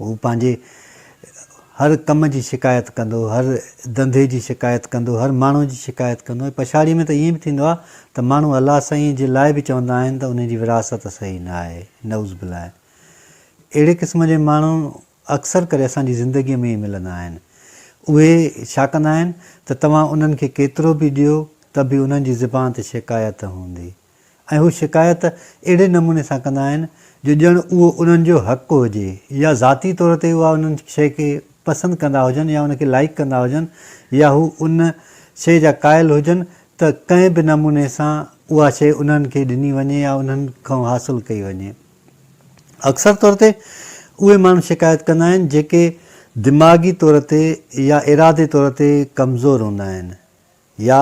هو پنهنجي هر ڪم جي شڪايت ڪندو، هر ڌنڌي جي شڪايت ڪندو، هر ماڻهو جي شڪايت ڪندو ۽ پڇاڙيء ۾ ته ائين به ٿيندو آهي ته ماڻهو الله سائينء جي لاء به چوندا آهن ته ان جي وراثت صحيح نه آهي. نعوذ بالله! اهڙي قسم جي ماڻهو اڪثر ڪري اسان جي زندگيء ۾ ئي ملندا آهن. اهي ڇا ڪندا آهن ته توهان انهن کي ڪيترو به ڏيو ته به انهن جي زبان تي شڪايت هوندي. ۽ هو شڪايت اهڙي نموني سان ڪندا آهن جو ڄڻ اهو انهن جو حق هجي يا ذاتي طور تي اها ان شيء کي پسند ڪندا هجن يا ان کي لائق ڪندا هجن يا هو ان شيء جا قائل هجن ته ڪنهن به نموني سان اها شيء انهن کي ڏني وڃي يا انهن کان حاصل ڪئي وڃي. اڪثر طور تي اهي ماڻهو شڪايت ڪندا آهن جيڪي دماغي طور تي يا ارادي طور تي ڪمزور هوندا آهن يا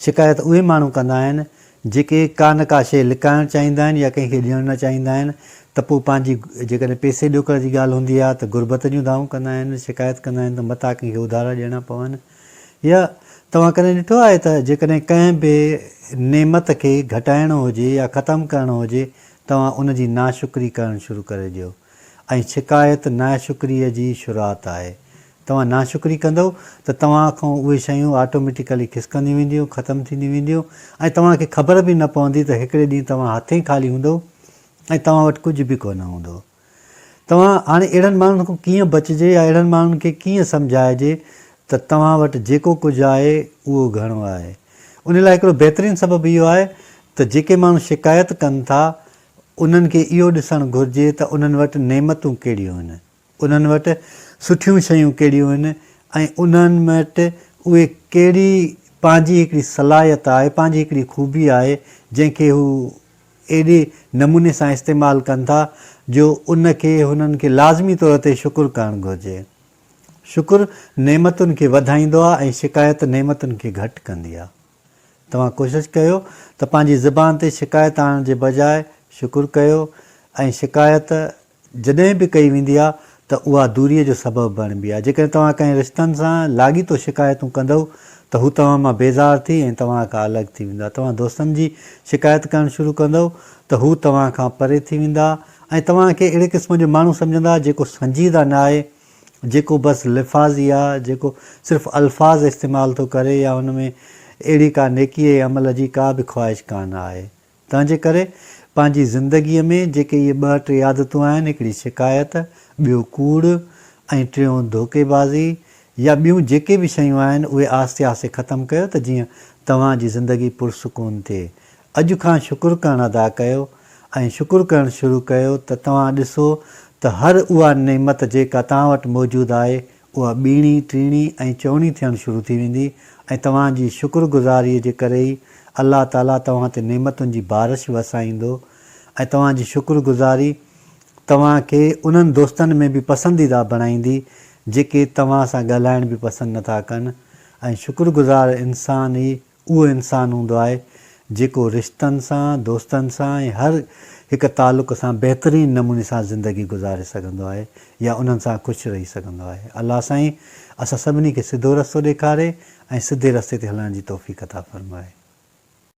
شڪايت اهي ماڻهو ڪندا آهن جيڪي ڪا نه ڪا شيء لڪائڻ چاهيندا آهن يا ڪنهن کي ڏيڻ نه چاهيندا آهن ته پوء پنهنجي جيڪڏهن پئسي ڏوڪڙ جي ڳالهه هوندي آهي ته غربت جون دانهون ڪندا آهن شڪايت ڪندا آهن ته متان ڪنهن کي اڌارا ڏيڻا پون يا توهان ڪڏهن ڏٺو آهي ته جيڪڏهن ڪنهن به نعمت کي گهٽائڻو هجي يا ختم ڪرڻو هجي توهان ان جي ناشڪري ڪرڻ شروع ڪري ڏيو ۽ شڪايت ناشڪريء جي شروعات آهي توهان ناشڪري ڪندؤ ته توهان کان اهي شيون آٽوميٽيڪلي کسڪنديون وينديون، ختم ٿينديون وينديون ۽ توهان کي خبر به نه پوندي ته هڪڙي ڏينهن توهان هٿين خالي هوندؤ ۽ توهان وٽ ڪجهه به ڪونه هوندو. توهان هاڻي اهڙن ماڻهن کان ڪيئن بچجي يا اهڙن ماڻهن کي ڪيئن سمجهائجي ته توهان وٽ جيڪو ڪجهه آهي اهو گهڻو آهي؟ ان لاء هڪڙو بهترين سبب اهو آهي ته جيڪي ماڻهو شڪايت ڪن ٿا انهن کي اهو ڏسڻ گهرجي ته انهن وٽ نعمتون ڪهڙيون آهن. انهن وٽ سٺيون شيون ڪهڙيون آهن ۽ انهن وٽ اهي ڪهڙي پنهنجي هڪڙي صلاحيت آهي، پنهنجي هڪڙي خوبي آهي، جنهن کي هو ايڏي نموني سان استعمال ڪن ٿا جو ان کي هنن کي لازمي طور تي شڪر ڪرڻ گهرجي. شڪر نعمتن کي وڌائيندو آهي ۽ شڪايت نعمتن کي گهٽ ڪندي آهي. توهان ڪوشش ڪيو ته پنهنجي زبان تي شڪايت آڻڻ جي بجاء شڪر ڪيو ۽ شڪايت جڏهن به ڪئي ويندي آهي ته اها دوريء جو سبب بڻبي آهي. جيڪڏهن توهان ڪنهن رشتن سان لاڳيتو شڪايتون ڪندؤ ته هو توهان مان بيزار ٿي ۽ توهان کان الڳ ٿي ويندا. توهان دوستن جي شڪايت ڪرڻ شروع ڪندؤ ته هو توهان کان پري ٿي ويندا ۽ توهان کي اهڙي قسم جو ماڻهو سمجهندا جيڪو سنجيده نه آهي، جيڪو بس لفاظي آهي، جيڪو صرف الفاظ استعمال ٿو ڪري يا هن ۾ اهڙي ڪا نيڪيء يا عمل جي ڪا به خواهش ڪانه آهي. تنهنجي ڪري پنهنجي زندگيء ۾ جيڪي اهي ٻه ٽي عادتون آهن، هڪڙي شڪايت، ٻيو ڪوڙ ۽ ٽيون ڌوڪي بازي يا ٻيون جيڪي به شيون آهن، اهي آهستي آهستي ختم ڪيو ته جيئن توهان جي زندگي پرسڪون ٿئي. اڄ کان شڪر ڪرڻ ادا ڪيو ۽ شڪر ڪرڻ شروع ڪيو ته توهان ڏسو ته هر اها نعمت جيڪا توهان وٽ موجود آهي، اها ٻيڻي، ٽيڻي ۽ چوڻي ٿيڻ شروع ٿي ويندي ۽ توهان جي شڪر گذاريء جي ڪري ئي الله تعاليٰ توهان تي نعمتن جي بارش وسائيندو ۽ توهان جي شڪر گذاري توهان کي انهن دوستن ۾ به پسنديده بڻائيندي جيڪي توهان سان ڳالهائڻ به پسند نٿا ڪن ۽ شڪر گذار انسان ئي اهو انسان هوندو آهي جيڪو رشتن سان، دوستن سان ۽ هر هڪ تعلق سان بهترين نموني سان زندگي گذاري سگهندو آهي يا انهن سان خوش رهي سگهندو آهي. الله سائين اسان سڀني کي سڌو رستو ڏيکاري ۽ سڌي رستي تي هلڻ جي توفيق عطا فرمائي.